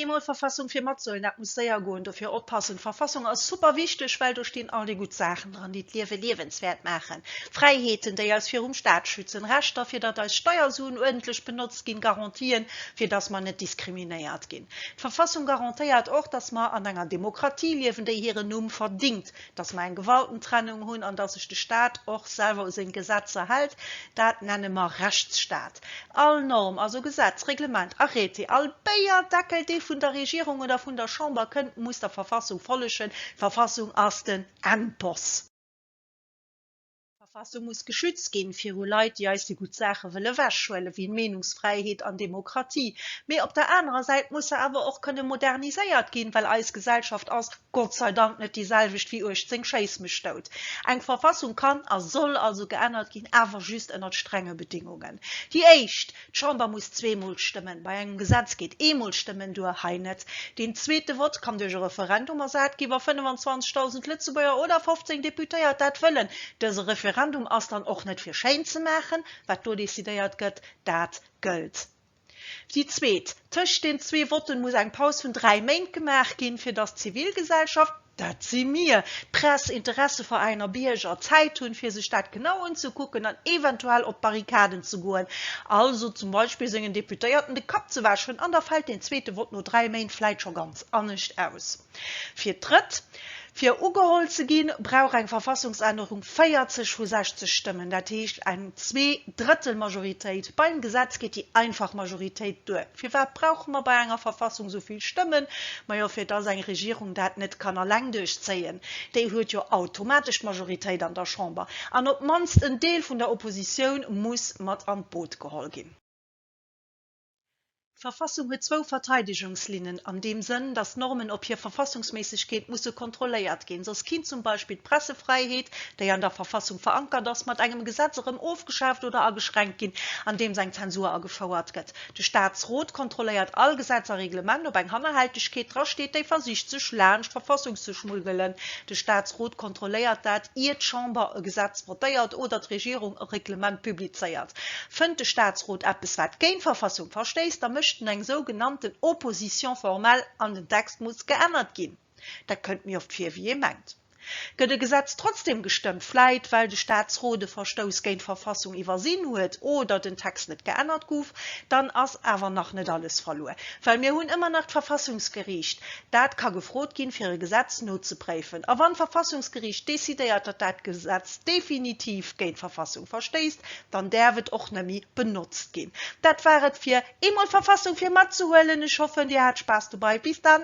Eemol Verfassung fir matsoen, dat muss séier goen, dofir oppassen. D'Verfassung ass super wichteg, well do stinn all déi gutt Saachen dran, déi d'Liewe liewenswäert maachen, Fräiheeten, déi eis virum Staat schützen, Rechter, fir datt eis Steiersuen uerdentlech benotzt ginn, Garantien, fir datt mer net diskriminéiert ginn. D'Verfassung garantéiert och, datt mer an enger Demokratie liewen, déi hiren Numm verdingt, dass mer eng Gewaltentrennung hunn an dass sech de Staat och selwer u seng Gesetzer hält, dat nenne mer Rechtsstaat. All Norm, also Gesetz, Reglement, Arrêté, all Béierdeckel, dee vun der Regierung oder vun der Chamber kënnt, muss der Verfassung follegen. D'Verfassung ass den Endboss. D'Verfassung muss geschützt ginn viru Leit, déi eis déi gutt Saache wëll ewechhuelen, wéi Meenungsfräiheet an Demokratie. Mee op der anerer Säit muss se awer och kënne moderniséiert ginn, well eis Gesellschaft ass Gott sei Dank net déi selwecht wéi 18 Schéiss mech dout. Eng Verfassung kann a soll also geännert ginn, awer just ënnert strenge Bedingungen. Déi éischt. D'Chamber muss zweemol stëmmen, bei engem Gesetz geet eemol stëmmen duer, hei net. Deen zweete Vott kann duerch e Referendum ersat ginn, wa 25.000 Lëtzebuerger oder 15 Deputéiert dat wëllen. Dëse Referendum ass dann och net fir schéin ze maachen, wat do decidéiert gëtt, dat gëllt. Déi zweet, Tëscht den zwee Votten muss eng Paus vun dräi Méint gemaach ginn, fir datt d'Zivilgesellschaft, Dat si mir, d'Press, Interesseveräiner a Bierger, Zäit hunn, fir sech dat genau unzekucken an eventuell op d'Barrikaden ze goen, also zum Beispill sengen Deputéierten de Kapp ze wäschen. An da fält deen zweete Vott no dräi Méint vläit scho ganz anescht aus. Fir d'Drëtt, fir ugeholl ze ginn, brauch eng Verfassungsännerung 40 vu 60 Stëmmen, dat heescht eng Zwee-Drëttel-Majoritéit. Beim Gesetz geet déi einfach Majoritéit duer. Firwat brauche mer bei enger Verfassung esou vill Stëmmen? Majo, fir dass eng Regierung dat net kann alleng duerchzéien. Déi huet jo automatesch d'Majoritéit an der Chamber. An op d'mannst en Deel vun der Oppositioun muss mat an d'Boot geholl ginn. D'Verfassung huet zwou Verteidegungslinnen an deem Sënn, dass d'Normen op hir Verfassungsméissegkeet musse kontrolléiert ginn. Soss kinnt zum Beispill d'Pressefräiheet, déi an der Verfassung verankert ass, mat engem Gesetz erëm ofgeschaaft oder ageschränkt ginn, andeems eng Zensur agefouert gëtt. De Staatsrot kontrolléiert all Gesetz a Reglement op eng Hannerhältegkeet dra steet, déi versicht sech laanscht d'Verfassung ze schmuggelen. De Staatsrot kontrolléiert dat, ier d'Chamber e Gesetz votéiert oder d'Regierung e Reglement publizéiert. Fënnt de Staatsrot eppes wat géint d'Verfassung verstéisst, da mécht en eng sougenannten Opposition formelle an den Text muss geännert ginn. Dat kënnt méi oft vir, wéi ee mengt. Gëtt e Gesetz trotzdeem gestëmmt, vläit well de Staatsrot e Verstouss géint d'Verfassung iwwersinn huet oder den Text net geännert gouf, dann ass awer nach net alles verluer. Well mir hunn ëmmer nach d'Verfassungsgeriicht, dat ka gefrot ginn, fir e Gesetz nozepréifen. A wann d'Verfassungsgeriicht decidéiert, datt dat Gesetz definitiv géint d'Verfassung verstéisst, dann däerf et och net méi benotzt ginn. Dat war et fir Eemol Verfassung fir matzehuelen. Ech hoffen dir hat Spaass dobei. Bis dann!